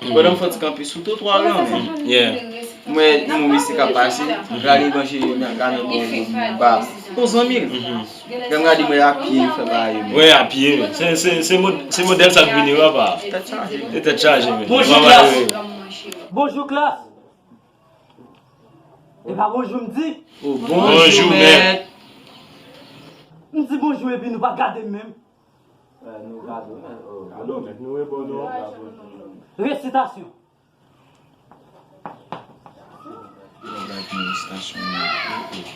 Pandan m fè ti kanpe sou twotwa w lan menm, m wè yon mesye k ap pase, m gade evanjelik li nan gade bò do m nan ba yon zanmi l. Lè m gade m wè apye li fè bagay yo menm. Wè apye menm. Se modèl sa k vini yo apa. Tèt chaje menm. Se tèt chaje menm. Bonjou klas! Bonjou klas! E pa bonjou m di? Bonjou mèt! M di bonjou epi nou pa gade m menm. Resitasyon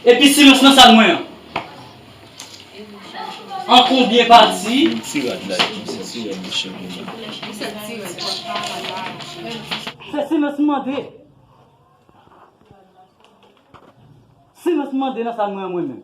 Epi silans nan sal mwen an An konbyen pati? Se silans m mande Silans m mande nan sal mwen an mwen menm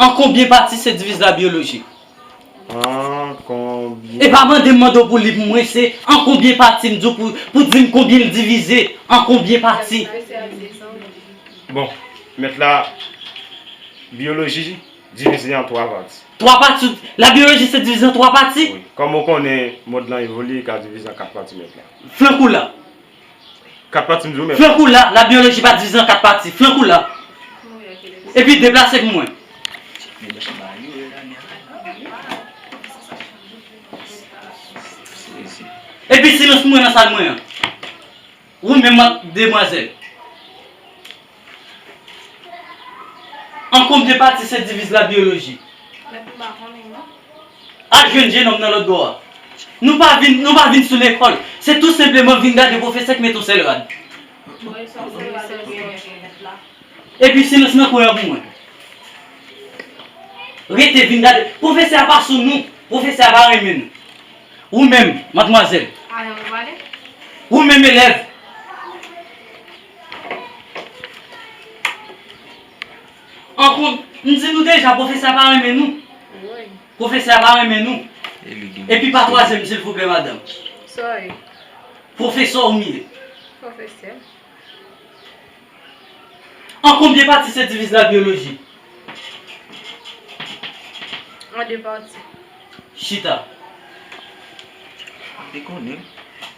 An konbyen pati se diviz la byolojik? An konbyen. E pa mande m mande w pou liv m mwen se an konbyen pati m di w pou di m konbyen l divize an konbyen pati. Bon, mèt la byoloji divize an 3 pati. 3 pati ou di? La byoloji se divize an 3 pati? Wi. Kòm ou konnen mond lan evolye li ka divize an 4 pati mèt la. Flank ou la. 4 pati m di w menm. Flank ou la, la biologie pa dizan 4 pati, flank ou la. Epi deplase pou mwen. Epi silans pou mwen nan sal mwen an. Ou menm ak demwazèl. An konn de pati se diviz la biyoloji. Al jwenn jenòm nan lòt bò a. Nou pa vin, nou pa vin sou lekòl. Se tou senpleman vin gade pwofesè k met on sèl rad. Epi silans nan kwen an pou mwen. Rete vin gade. Pwofesè a pa sou nou. Pwofesè a pa renmen nou. Ou menm, madmwazèl. Ou menm elèv. An kon, m di nou deja pwofesè a pa renmen nou. Woy. Pwofesè a pa renmen nou. Epi pa twazyèm silvouplè madanm. Sorry. Pwofesè w m ye. Pwofesè. An konbyen pati se divize la byoloji? An de pati. Chita. Li konnen.